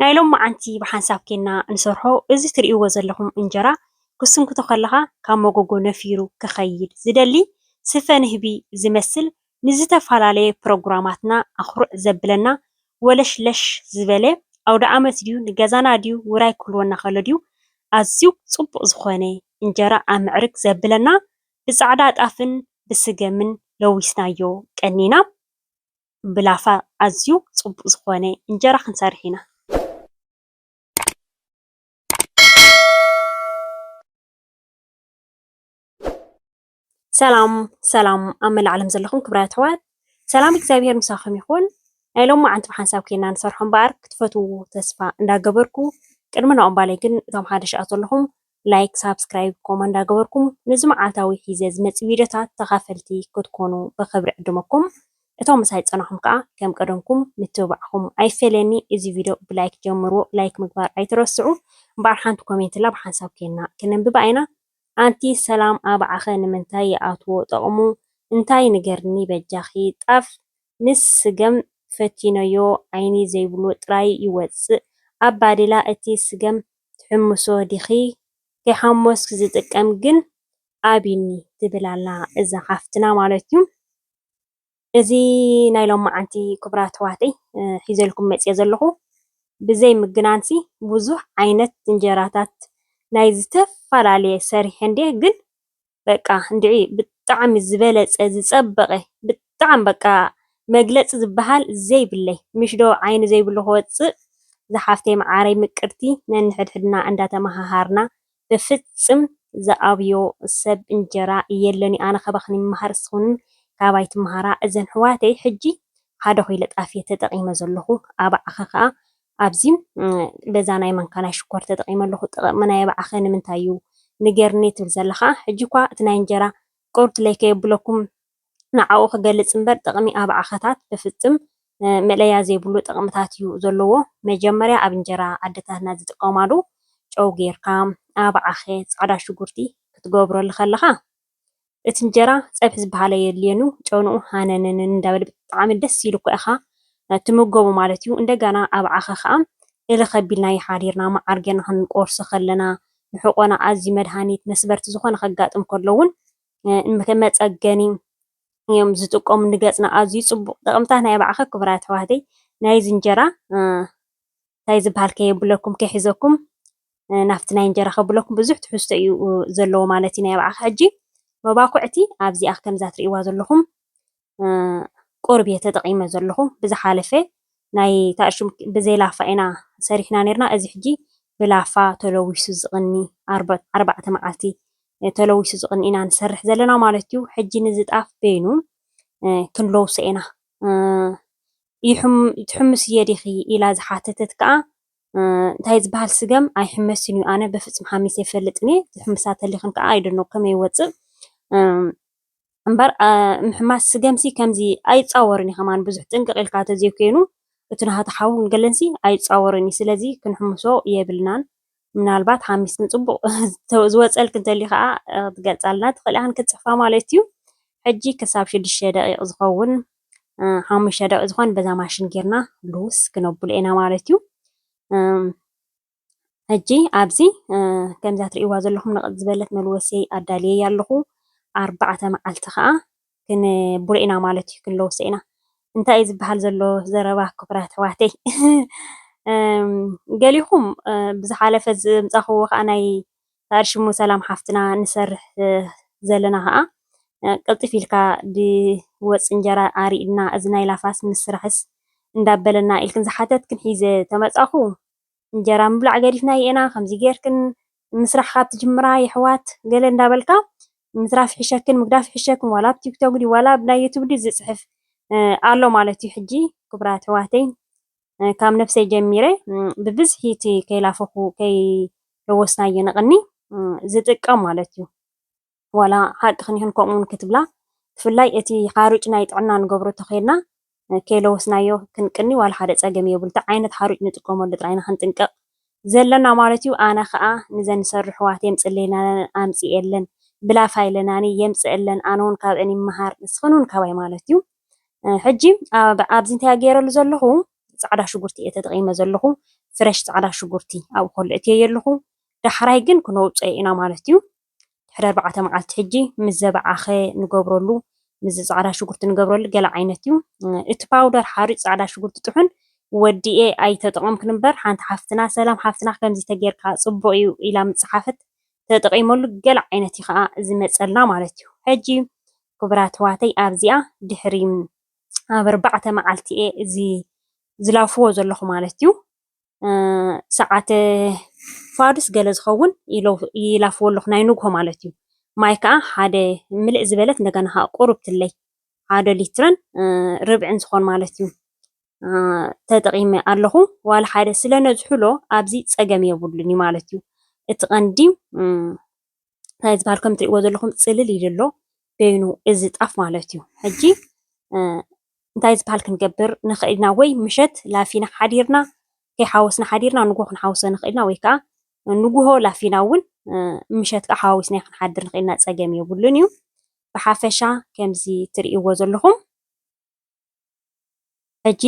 ናይ ሎማዓንቲ ብሓንሳብ ኬና እንሰርሖ እዚ ትሪእዎ ዘለኹም እንጀራ ክትስንክቶ ከለኻ ካብ መጎጎ ነፊሩ ክኸይድ ዝደሊ ስፈ ንህቢ ዝመስል ንዝተፈላለየ ፕሮግራማትና ኣኹርዕ ዘብለና ወለሽለሽ ዝበለ ኣውደኣመት ድዩ ንገዛና ድዩ ውራይ ክህልወና ከሎ ድዩ ኣዝዩ ፅቡቕ ዝኾነ እንጀራ ኣምዕርግ ዘብለና ብፃዕዳ ጣፍን ብስገምን ለዊስናዮ ቀኒና ብላፋ ኣዝዩ ጽቡቅ ዝኮነ እንጀራ ክንሰርሕ ኢና። ሰላም ሰላም ኣብ መላእ ዓለም ዘለኹም ክብራት ኣሕዋት ሰላም እግዚኣብሄር ምሳኹም ይኹን። ናይ ሎማዓንቲ ብሓንሳብ ኬና ንሰርሖ እምበኣር ክትፈትውዎ ተስፋ እንዳገበርኩ ቅድሚ ናኦም ባለይ ግን እቶም ሓደሽኣ ዘለኹም ላይክ ሳብስክራይብ ኮማ እንዳገበርኩም ነዚ መዓልታዊ ሒዘ ዝመጽእ ቪድዮታት ተኻፈልቲ ክትኮኑ ብኽብሪ ዕድመኩም እቶም ምሳይ ዝጸናሕኩም ከኣ ከም ቀደምኩም ምትብባዕኩም ኣይፈለየኒ እዚ ቪድዮ ብላይክ ጀምርዎ ላይክ ምግባር ኣይትረስዑ እምበኣር ሓንቲ ኮሜንትላ ብሓንሳብ ኴንና ክነንብባ ኢና ኣንቲ ሰላም ኣብዓኸ ንምንታይ ይኣትዎ ጠቕሙ እንታይ ንገርኒ በጃኺ ጣፍ ምስ ስገም ፈቲነዮ ዓይኒ ዘይብሉ ጥራይ ይወጽእ ኣብ ባዴላ እቲ ስገም ትሕምሶ ዲኺ ከይሓሞስኪ ዝጥቀም ግን ኣብኒ ትብል ኣላ እዛ ሓፍትና ማለት እዩ። እዚ ናይ ሎማዓንቲ ክቡራት ኣሕዋተይ ሒዘልኩም መፅየ ዘለኹ ብዘይ ምግናንሲ ብዙሕ ዓይነት እንጀራታት ናይ ዝተፈላለየ ሰሪሐ እንድየ ግን በቃ እንድዒ ብጣዕሚ ዝበለፀ ዝፀበቀ ብጣዕሚ በቃ መግለፂ ዝበሃል ዘይብለይ ምሽ ዶ ዓይኒ ዘይብሉ ክወፅእ ዝሓፍተይ መዓረይ ምቅርቲ ነንሕድሕድና እንዳተመሃሃርና ብፍፅም ዝኣብዮ ሰብ እንጀራ የለንዩ ኣነ ካባክን ይመሃር እስክን ካባይ ትመሃራ እዘን ሕዋተይ ሕጂ ሓደ ኮይለ ጣፍየ ተጠቂመ ዘለኩ ኣባዕከ ከዓ ኣብዚ በዛ ናይ ማንካ ናይ ሽኮር ተጠቂመ ኣለኩ ጥቅሚ ናይ ኣብዓከ ንምንታይ እዩ ንገርኒ ትብል ዘለካ ሕጂ እኳ እቲ ናይ እንጀራ ቅሩትለይ ከየብለኩም ንዓኡ ክገልጽ እምበር ጥቅሚ ኣብዓከታት ብፍጽም መእለያ ዘይብሉ ጥቅምታት እዩ ዘለዎ መጀመርያ ኣብ እንጀራ ኣደታትና ዝጥቀማሉ ጨው ገርካ ኣብዓከ ጻዕዳ ሽጉርቲ ክትገብረሉ ከለካ እቲ እንጀራ ፀብሒ ዝበሃል ኣየድልየኑ ጨንኡ ሃነነንን እንዳበለ ብጣዕሚ ደስ ኢሉ እኳ ኢኻ ትምገቦ ማለት እዩ። እንደገና ኣብ ዓኺ ከዓ እልኽ ኣቢልናዮ ሓዲርና መዓር ጌርና ክንቆርሶ ከለና ንሕቆና ኣዝዩ መድሃኒት መስበርቲ ዝኾነ ከጋጥም ከሎ እውን ከም መፀገኒ እዮም ዝጥቀሙ ንገፅና ኣዝዩ ፅቡቕ ጥቕምታት ናይ ኣብ ዓኺ ክቡራት ኣሕዋተይ ናይዚ እንጀራ እንታይ ዝበሃል ከየብለኩም ከይሕዘኩም ናብቲ ናይ እንጀራ ከብለኩም ብዙሕ ትሕዝቶ እዩ ዘለዎ ማለት እዩ ናይ ኣብዓኺ ሕጂ መባኩዕቲ ኣብዚኣ ከምዛ ትርእይዋ ዘለኹም ቁርብ እየ ተጠቒመ ዘለኹ ብዝሓለፈ ናይ ታእሹም ብዘይ ላፋ ኢና ሰሪሕና ነርና እዚ ሕጂ ብላፋ ተለዊሱ ዝቕኒ ኣርባዕተ መዓልቲ ተለዊሱ ዝቕኒ ኢና ንሰርሕ ዘለና ማለት እዩ ሕጂ ንዝጣፍ በይኑ ክንለውሶ ኢና ትሕምስዬ ዲኺ ኢላ ዝሓተተት ከኣ እንታይ ዝባሃል ስገም ኣይሕመስን እዩ ኣነ በፍጹም ሓሚሰ ኣይፈልጥን እየ ትሕምሳ ተሊኽን ከኣ ኣይደኖ ከመይ ይወጽእ እምበር ምሕማስ ስገምሲ ከምዚ ኣይጻወርን እዩ ከማን ብዙሕ ጥንቅቕ ኢልካ ተዘይኮይኑ እቲ ናሃቱ ሓውን ገለንሲ ኣይጻወርን እዩ ስለዚ ክንሕምሶ የብልናን ምናልባት ሓሚስ ንጽቡቕ ዝወጸልክ እንተልዩ ከኣ ክትገልጻልና ትኽእል ኢኻ ክትጽሕፋ ማለት እዩ ሕጂ ክሳብ ሽዱሽተ ደቂቕ ዝኸውን ሓሙሽተ ደቂቕ ዝኾን በዛ ማሽን ጌርና ልውስ ክነብሎ ኢና ማለት እዩ ሕጂ ኣብዚ ከምዛ ትርእይዋ ዘለኹም ነቐጥ ዝበለት መልወሲ ኣዳልየ ኣለኹ ኣርባዕተ መዓልቲ ከኣ ክንቡር ኢና ማለት እዩ ክንለውሶ ኢና እንታይ እዩ ዝበሃል ዘሎ ዘረባ ክቡራት ኣሕዋተይ ገሊኹም ብዝሓለፈ ዘምጻኹዎ ከዓ ናይ ሰኣል ሽሙ ሰላም ሓፍትና ንሰርሕ ዘለና ከዓ ቅልጥፍ ኢልካ ድወፅ እንጀራ ኣሪእና እዚ ናይ ላፋስ ምስራሕስ እንዳበለና ኢልክን ዝሓተትክን ሒዘ ተመጻኹ እንጀራ ምብላዕ ገዲፍና የእና ከምዚ ገርክን ምስራሕ ካብ ትጅምራ የሕዋት ገለ እንዳበልካ ምትራፍ ይሕሸክን ምግዳፍ ይሕሸክን ዋላ ኣብ ቲክቶክ ድዩ ዋላ ኣብ ናይ ዩቱብ ድዩ ዝጽሕፍ ኣሎ ማለት እዩ ሕጂ ክብራት ኣሕዋተይ ካብ ነፍሰይ ጀሚረ ብብዝሒ እቲ ከይላፈኹ ከይለወስናዮ ንቕኒ ዝጥቀም ማለት እዩ ዋላ ሓቅኽን ይኹን ከምኡውን ክትብላ ብፍላይ እቲ ሓሩጭ ናይ ጥዕና ንገብሮ ተኼልና ከይለወስናዮ ክንቅኒ ዋላ ሓደ ጸገም የብሉ እቲ ዓይነት ሓሩጭ ንጥቀመሉ ጥራይ ኢና ክንጥንቀቕ ዘለና ማለት እዩ ኣነ ከኣ ንዘን ንሰርሑ ኣሕዋት የምጽእለይናን ኣምጽኤለን ብላፋ ኢለናኒ የምጽእለን ኣነ ውን ካብአን ይመሃር ንስኽን ውን ካባይ ማለት እዩ ሕጂ ኣብዚ እንታይ ገይረሉ ዘለኹ ጻዕዳ ሽጉርቲ እየ ተጠቒመ ዘለኹ ፍረሽ ጻዕዳ ሽጉርቲ ኣብኡ ከሎ እትየየ ኣለኹ ዳሕራይ ግን ክነውጽኦ ኢና ማለት እዩ ድሕሪ ኣርባዕተ መዓልቲ ሕጂ ምስ ዘባዓኸ ንገብረሉ ምስዚ ጻዕዳ ሽጉርቲ ንገብረሉ ገለ ዓይነት እዩ እቲ ፓውደር ሓሩጭ ጻዕዳ ሽጉርቲ ጥሑን ወዲኤ ኣይተጠቐምኩን እምበር ሓንቲ ሓፍትና ሰላም ሓፍትና ከምዚ ተጌርካ ጽቡቕ እዩ ኢላ ምስ ጸሓፈት ተጠቒመሉ ገለ ዓይነት እዩ ከኣ ዝመጸልና ማለት እዩ ሕጂ ክቡራት ኣሕዋተይ ኣብዚኣ ድሕሪ ኣብ ኣርባዕተ መዓልቲ እየ እዚ ዝላፍዎ ዘለኹ ማለት እዩ ሰዓት ፋዱስ ገለ ዝኸውን ይላፍዎ ኣለኹ ናይ ንግሆ ማለት እዩ። ማይ ከዓ ሓደ ምልእ ዝበለት እንደገና ከዓ ቁርብትለይ ሓደ ሊትርን ርብዕን ዝኾን ማለት እዩ ተጠቒመ ኣለኹ። ዋላ ሓደ ስለ ነዝሕሎ ኣብዚ ፀገም የብሉን ማለት እዩ። እቲ ቀንዲ እንታይ ዝበሃል ከም እትሪእዎ ዘለኹም ፅልል ኢሉ ኣሎ በይኑ እዚ ጣፍ ማለት እዩ። ሕጂ እንታይ ዝበሃል ክንገብር ንኽእል ኢና ወይ ምሸት ላፊና ሓዲርና ከይሓወስና ሓዲርና ንግሆ ክንሓውሶ ንኽእል ኢና ወይ ከዓ ንግሆ ላፊና እውን ምሸት ከዓ ሓዋዊስናዮ ክንሓድር ንኽእል ኢና ፀገም የብሉን እዩ። ብሓፈሻ ከምዚ እትሪእዎ ዘለኹም ሕጂ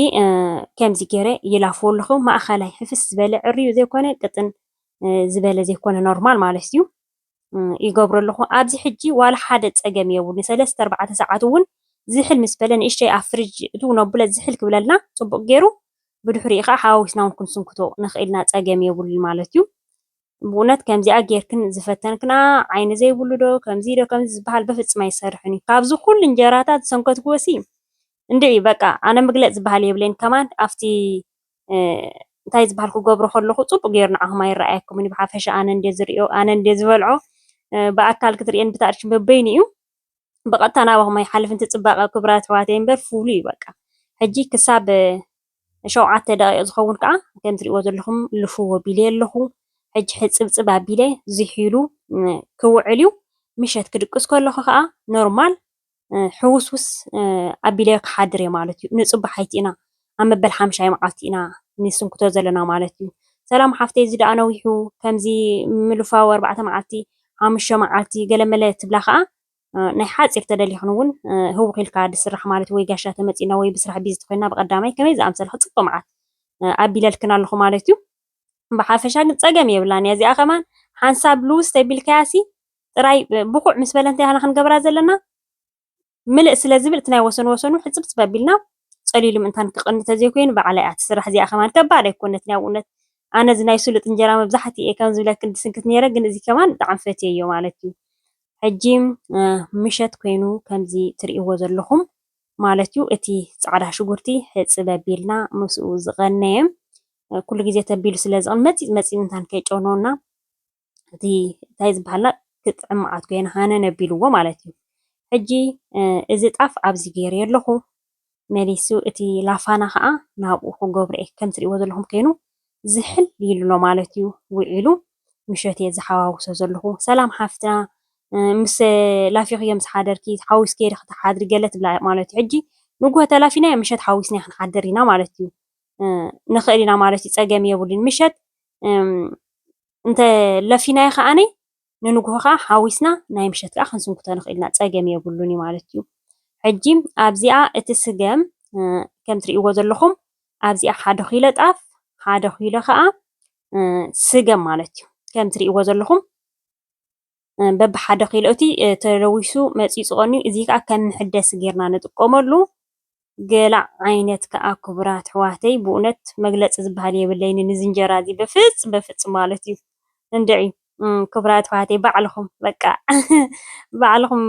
ከምዚ ገይረ ይላፍዎ ኣለኹ ማእኸላይ ሕፍስ ዝበለ ዕርዩ ዘይኮነ ቅጥን ዝበለ ዘይኮነ ኖርማል ማለት እዩ ይገብሮ ኣለኹ። ኣብዚ ሕጂ ዋላ ሓደ ፀገም የብሉ ሰለስተ ኣርባዕተ ሰዓት እውን ዝሕል ምስ በለ ንእሽተይ ኣብ ፍርጅ እትው ነብለ ዝሕል ክብለልና ፅቡቅ ገይሩ ብድሕሪኡ ከዓ ሓዋዊስና እውን ክንስንክቶ ንኽእል ኢና ፀገም የብሉን ማለት እዩ። ብእውነት ከምዚኣ ጌርክን ዝፈተንክንኣ ዓይኒ ዘይብሉ ዶ ከምዚ ዶ ከምዚ ዝብሃል በፍጽም ኣይሰርሕን እዩ ካብዚ ኩሉ እንጀራታት ዝሰንከትክዎሲ እንድዒ በቃ ኣነ ምግለጽ ዝብሃል የብለይን ከማን ኣብቲ እንታይ ዝብሃል ክገብሮ ከለኹ ጽቡቅ ጌሩ ንዓኹም ኣይረኣየኩምን እዩ ብሓፈሻ ኣነ እንድየ ዝርእዮ ኣነ እንድየ ዝበልዖ ብኣካል ክትርእየኒ ብታእርሽ በበይኑ እዩ ብቀጥታ ናባኹም ኣይሓልፍን እቲ ፅባቀ ክቡራት ኣሕዋተይ እምበር ፍሉይ እዩ በቃ ሕጂ ክሳብ ሸውዓተ ደቂቅ ዝኸውን ከዓ ከም ትሪእዎ ዘለኹም ልፍዎ ኣቢለ ኣለኹ ሕጂ ሕፅብፅብ ኣቢለ ዝሒሉ ክውዕል እዩ ምሸት ክድቅስ ከለኹ ከዓ ኖርማል ሕውስውስ ኣቢለ ክሓድር እየ ማለት እዩ ንፅባሓይቲ ኢና ኣብ መበል ሓምሻይ መዓልቲ ኢና ንስንክቶ ዘለና ማለት እዩ ሰላም ሓፍተይ እዚ ደኣ ነዊሑ ከምዚ ምልፋው ኣርባዕተ መዓልቲ ሓሙሽተ መዓልቲ ገለመለ ትብላ ከኣ ናይ ሓጺር ተደሊኽን እውን ህውኽ ኢልካ ዝስራሕ ማለት ወይ ጋሻ ተመጺና ወይ ብስራሕ ቢዚ ተኾይና ብቀዳማይ ከመይ ዝኣምሰለ ክጽብቅ መዓት ኣቢለልክን ኣለኹ ማለት እዩ ብሓፈሻ ግን ጸገም የብላን እያ እዚኣ ከማን ሓንሳብ ልውስ ተቢልካያሲ ጥራይ ብኩዕ ምስ በለ እንታይ ኢና ክንገብራ ዘለና ምልእ ስለ ዝብል እቲ ናይ ወሰን ወሰኑ ሕጽብጽብ ኣቢልና ጸሊሉ ምእንታን ክቐኒ ተዘይኮይኑ ብዓል ኣይኣቲ ስራሕ እዚኣ ከማን ከባድ ኣይኮነትን ያው እውነት ኣነ እዚ ናይ ስሉጥ እንጀራ መብዛሕትኡ እየ ከም ዝብለክን ድስንክት ነይረ ግን እዚ ከማን ብጣዕሚ ፈትየዮ ማለት እዩ ሕጂ ምሸት ኮይኑ ከምዚ ትርእይዎ ዘለኹም ማለት እዩ እቲ ጻዕዳ ሽጉርቲ ሕጽብ ኣቢልና ምስኡ ዝቐነየ ኩሉ ግዜ ተቢሉ ስለ ዝቕን መጺጽ መጺጽ ምእንታን ከይጨውነወና እቲ እንታይ ዝበሃልና ክጥዕም መዓት ኮይና ሃነን ኣቢልዎ ማለት እዩ። ሕጂ እዚ ጣፍ ኣብዚ ገይረዮ ኣለኹ መሊሱ እቲ ላፋና ከዓ ናብኡ ክገብሮ እየ ከም ትሪእዎ ዘለኹም ኮይኑ ዝሕል ኢሉ ኣሎ ማለት እዩ ውዒሉ ምሸት እየ ዝሓዋውሶ ዘለኹ ሰላም ሓፍትና ምስ ላፊኽዮ ምስ ሓደርኪ ሓዊስኪ ዲ ክትሓድሪ ገለ ትብላ ማለት እዩ ሕጂ ንጉሆ ተላፊናዮ ምሸት ሓዊስና ክንሓድር ኢና ማለት እዩ ንኽእል ኢና ማለት እዩ ፀገም የብሉን ምሸት እንተ ለፊናዮ ከኣ ንንግሆ ከኣ ሓዊስና ናይ ምሸት ከኣ ክንስንክቶ ንኽእል ኢና ጸገም የብሉን እዩ ማለት እዩ። ሕጂ ኣብዚኣ እቲ ስገም ከም ትርእይዎ ዘለኹም ኣብዚኣ ሓደ ኪሎ ጣፍ ሓደ ኪሎ ከኣ ስገም ማለት እዩ ከም ትርእይዎ ዘለኹም በብሓደ ኪሎ እቲ ተለዊሱ መፂኡ ዝቐንዩ እዩ። እዚ ከዓ ከም መሐደሲ ጌርና ንጥቀመሉ። ገለ ዓይነት ከዓ ክቡራት ኣሕዋተይ ብእውነት መግለፂ ዝበሃል የብለይንን እዚ እንጀራ እዚ በፍፅ በፍፅ ማለት እዩ። እንድዒ ክቡራት ኣሕዋተይ ባዕልኹም በቃ ባዕልኹም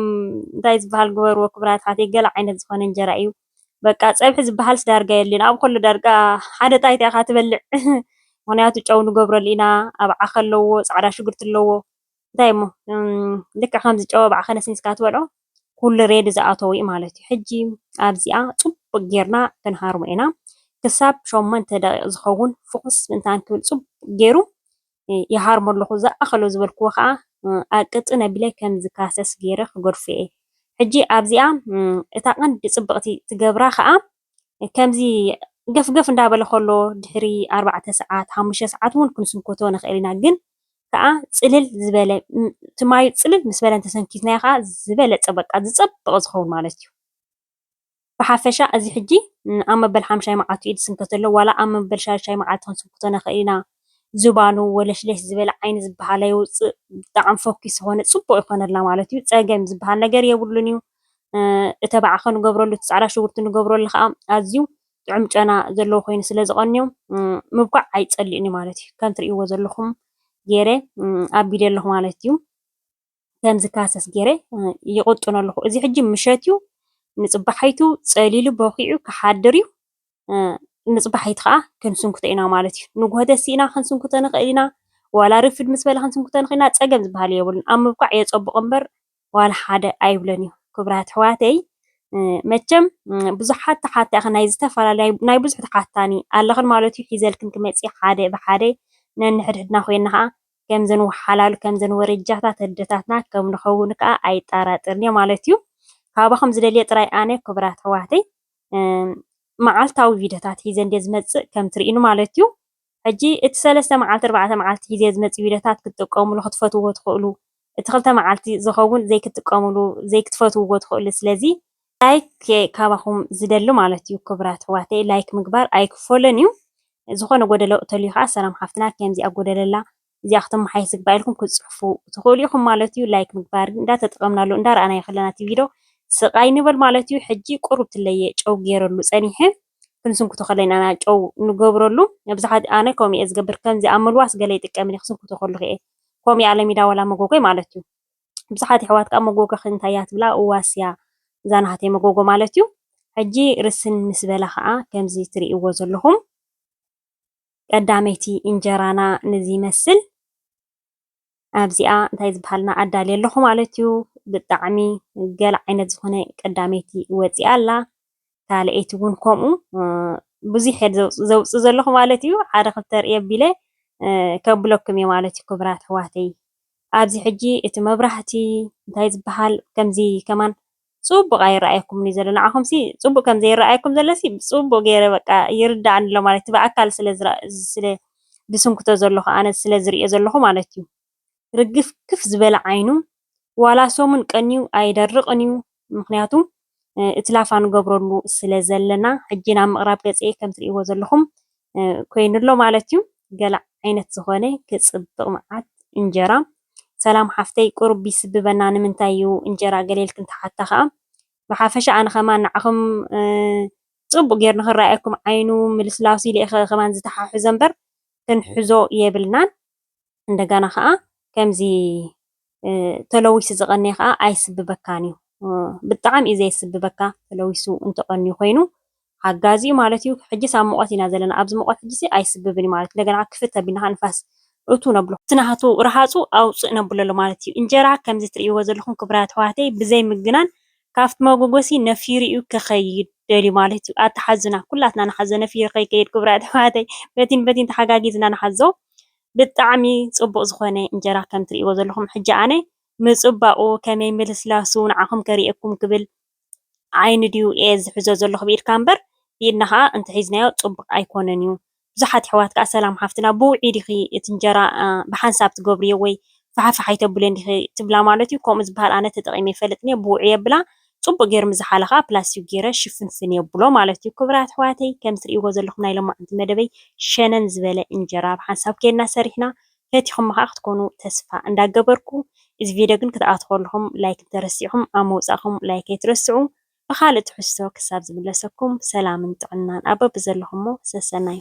እንታይ ዝበሃል ግበርዎ ክቡራት ኣሕዋተይ ገለ ዓይነት ዝኾነ እንጀራ እዩ። በቃ ፀብሒ ዝበሃልስ ዳርጋ የለን ኣብኡ ከሎ ዳርጋ ሓደ ጣይታ ኢኻ ትበልዕ ምኽንያቱ ጨው ንገብረሉ ኢና ኣብ ዓኸ ኣለዎ ፃዕዳ ሽጉርቲ ኣለዎ እንታይ እሞ ልክዕ ከምዚ ጨው ኣብ ዓኸ ነስኒስካ ትበልዖ ኩሉ ሬድ ዝኣተዎ እዩ ማለት እዩ ሕጂ ኣብዚኣ ፅቡቅ ጌርና ክንሃርሞ ኢና ክሳብ ሸሞንተ ደቂቅ ዝኸውን ፍኹስ ምእንታን ክብል ፅቡቅ ጌሩ ይሃርሞ ኣለኹ፣ ዝኣኸሎ ዝበልክዎ ከኣ ኣብ ቅጥን ኣቢለ ከም ዝካሰስ ገይረ ክገድፎ'የ። ሕጂ ኣብዚኣ እታ ቀንዲ ጽብቕቲ ትገብራ ከኣ ከምዚ ገፍገፍ እንዳ በለ ከሎ ድሕሪ ኣርባዕተ ሰዓት ሓሙሽተ ሰዓት እውን ክንስንኮቶ ንኽእል ኢና ግን ከኣ ጽልል ዝበለ እቲ ማዩ ጽልል ምስ በለ እንተሰንኪትናዮ ከኣ ዝበለጸ በቃ ዝጸብቕ ዝኸውን ማለት'ዩ። ብሓፈሻ እዚ ሕጂ ኣብ መበል ሓምሻይ መዓልቱ እዩ ዝስንከት ዘሎ ዋላ ኣብ መበል ሻድሻይ መዓልቱ ክንስንክቶ ንኽእል ኢና ዝባኑ ወለሽለሽ ዝበለ ዓይኒ ዝብሃል ኣይውጽእ ብጣዕሚ ፈኲስ ዝኾነ ጽቡቕ ይኾነልና ማለት እዩ ጸገም ዝብሃል ነገር የብሉን እዩ እተባዕ ኸ ንገብረሉ እቲ ጻዕዳ ሽጉርቲ ንገብረሉ ኸዓ ኣዝዩ ጥዑም ጨና ዘለዎ ኮይኑ ስለ ዝቐንዮ ምብኳዕ ኣይጸልእን እዩ ማለት እዩ ከም ትርእይዎ ዘለኹም ገይረ ኣቢለ ኣለኹ ማለት እዩ ከምዝካሰስ ጌረ ይቕጥኖ ኣለኹ። እዚ ሕጂ ምሸት እዩ፣ ንጽባሓይቱ ጸሊሉ በኺዑ ክሓድር እዩ፣ ንጽባሓይቱ ከኣ ክንስንኩቶ ኢና ማለት እዩ። ንግሆ ተሲእና ክንስንኩቶ ንኽእል ኢና፣ ዋላ ርፍድ ምስ በለ ክንስንኩቶ ንኽእል ኢና፣ ጸገም ዝበሃል የብሉን። ኣብ ምብቃዕ የጸብቕ እምበር ዋላ ሓደ ኣይብሎን እዩ። ክብራት ኣሕዋተይ መቸም ብዙሓት ተሓታኺ ናይ ዝተፈላለያ ናይ ብዙሕ ተሓታኒ ኣለኽን ማለት እዩ ሒዘልክን ክመጽእ ሓደ ብሓደ ነንሕድሕድና ኮይና ከዓ ከምዘን ወሓላሉ ከምዘን ወረጃታት ኣደታትና ከም ንኸውን ከኣ ኣይጣራጠርን እየ ማለት እዩ። ካባኹም ዝደልዮ ጥራይ ኣነ ክቡራት ኣሕዋተይ መዓልታዊ ቪድዮታት ሒዘ እንድየ ዝመጽእ ከም ትርእዩኒ ማለት እዩ። ሕጂ እቲ ሰለስተ መዓልቲ ኣርባዕተ መዓልቲ ሒዘ ዝመጽእ ቪድዮታት ክትጥቀሙሉ ክትፈትውዎ ትኽእሉ እቲ ክልተ መዓልቲ ዝኸውን ዘይክትጥቀሙሉ ዘይክትፈትውዎ ትኽእሉ ስለዚ ላይክ እየ ካባኹም ዝደሊ ማለት እዩ ክብራት ኣሕዋተይ ላይክ ምግባር ኣይክፈሎን እዩ ዝኾነ ጎደሎ እተልዩ ከዓ ሰላም ሓፍትና ከምዚኣ ጎደለላ እዚኣ ክተመሓየሽ ዝግባእ ኢልኩም ክትፅሕፉ ትኽእሉ ኢኹም ማለት እዩ ላይክ ምግባር እንዳተጠቐምናሉ እንዳረኣናዮ ከለና እቲ ቪድዮ ስቃይ ንበል ማለት እዩ ሕጂ ቁሩብ ትለየ ጨው ገይረሉ ፀኒሐ ክንስንኩቶ ከለና ኢና ጨው ንገብረሉ መብዛሕትኡ ኣነ ከምኡ እየ ዝገብር ከምዚ ኣብ መልዋስ ገለ ይጥቀም እየ ክስንኩቶ ከለኹ እየ ከምኡ እያ ለሚዳ ዋላ መጎጎይ ማለት እዩ ብዙሓት የሕዋት ከኣ መጎጎኺ እንታይ እያ ትብላ እዋስያ እዛ ናሃተይ መጎጎ ማለት እዩ ሕጂ ርስን ምስ በለ ከኣ ከምዚ ትርእይዎ ዘለኹም ቀዳመይቲ እንጀራና ነዚ ይመስል ኣብዚኣ እንታይ ዝበሃል እና ኣዳልየ ኣለኹ ማለት እዩ ብጣዕሚ ገለ ዓይነት ዝኾነ ቀዳመይቲ ወጺኣ ኣላ። እታ ለይቲ እውን ከምኡ ብዙሕ እየ ዘውፅእ ዘለኹ ማለት እዩ ሓደ ክልተ ርኢ ኣቢለ ከብለኩም እየ ማለት እዩ ክብራት ኣሕዋተይ ኣብዚ ሕጂ እቲ መብራህቲ እንታይ ዝበሃል ከምዚ ከማን ፅቡቅ ኣይረኣየኩምን እዩ ዘሎ ንዓኹም ሲ ፅቡቅ ከም ዘይረኣየኩም ዘሎ ሲ ፅቡቅ ገይረ በቃ ይርዳእኒ ኣሎ ማለት እቲ ብኣካል ስለ ስለ ድስንክቶ ዘለኹ ኣነ ስለ ዝሪኦ ዘለኹ ማለት እዩ ርግፍግፍ ዝበለ ዓይኑ ዋላ ሰሙን ቀንዩ ኣይደርቕን እዩ ምኽንያቱ እቲ ላፋ ንገብረሉ ስለ ዘለና ሕጂ ናብ ምቕራብ ገጸ ከም ትርእይዎ ዘለኹም ኮይኑ ኣሎ ማለት እዩ ገለ ዓይነት ዝኾነ ክጽብቕ መዓት እንጀራ ሰላም ሓፍተይ ቁሩብ ይስብበና ንምንታይ እዩ እንጀራ ገለ ኢልክን ትሓታ ከኣ ብሓፈሻ ኣነ ከማን ንዓኹም ጽቡቕ ጌሩ ንኽረኣየኩም ዓይኑ ምልስላሱ ኢለ እየ ከማን ዝተሓሕዞ እምበር ክንሕዞ የብልናን እንደገና ከኣ ከምዚ ተለዊሱ ዝቐነየ ከኣ ኣይስብበካን እዩ። ብጣዕሚ እዩ ዘየስብበካ ተለዊሱ እንተቐንዩ ኮይኑ ሓጋዚ እዩ ማለት እዩ። ሕጂስ ኣብ ሙቐት ኢና ዘለና ኣብዚ ሙቐት ሕጂሲ ኣይስብብን እዩ ማለት እንደገና ክፍት ኣቢልና ከኣ ንፋስ እቱ ነብሎ እቲ ናሃቱ ረሃፁ ኣውፅእ ነብሎ ኣሎ ማለት እዩ። እንጀራ ከምዚ ትርእይዎ ዘለኹም ክብራት ኣሕዋተይ ብዘይ ምግናን ካብቲ መጎጎሲ ነፊሩ እዩ ክኸይድ ደልዩ ማለት እዩ። ኣታ ሓዙና ኩላትና ንሓዞ ነፊሩ ከይከይድ ክብራት ኣሕዋተይ በቲን በቲን ተሓጋጊዝና ንሓዞ። ብጣዕሚ ፅቡቅ ዝኮነ እንጀራ ከም እትሪእዎ ዘለኩም ሕጂ ኣነ ምፅባቁ ከመይ ምልስላሱ ንዓኩም ከሪኤኩም ክብል ዓይኒ ድዩ እየ ዝሕዞ ዘለኩ ብኢድካ እምበር ብኢድና ከዓ እንተሒዝናዮ ፅቡቅ ኣይኮነን እዩ ብዙሓት ኣሕዋት ከዓ ሰላም ሓፍትና ብውዒ ዲኪ እቲ እንጀራ ብሓንሳብ ትገብርዮ ወይ ፋሕፋሕ ኣይተብልዮን ዲኪ ትብላ ማለት እዩ ከምኡ ዝባሃል ኣነ ተጠቂመ ኣይፈልጥን እየ ብውዒ የብላ ጽቡቅ ጌር ምስ ዝሓለ ከኣ ፕላስቲኩ ጌረ ሽፍንፍን የብሎ ማለት እዩ ክቡራት ኣሕዋተይ ከም ትርእይዎ ዘለኩም ናይ ሎማዓንቲ መደበይ ሸነን ዝበለ እንጀራ ብ ሓንሳብ ኬድና ሰሪሕና ፈቲኩሞ ከኣ ክትኮኑ ተስፋ እንዳ ገበርኩ እዚ ቪድዮ ግን ክትኣትዉ ከለኩም ላይክ እንተ ረሲዕኩም ኣብ ምውጻኩም ላይክ ኣይትረስዑ ብካልእ ትሕዝቶ ክሳብ ዝምለሰኩም ሰላምን ጥዕናን ኣብ በብዘለኩሞ ሰሰናዩ።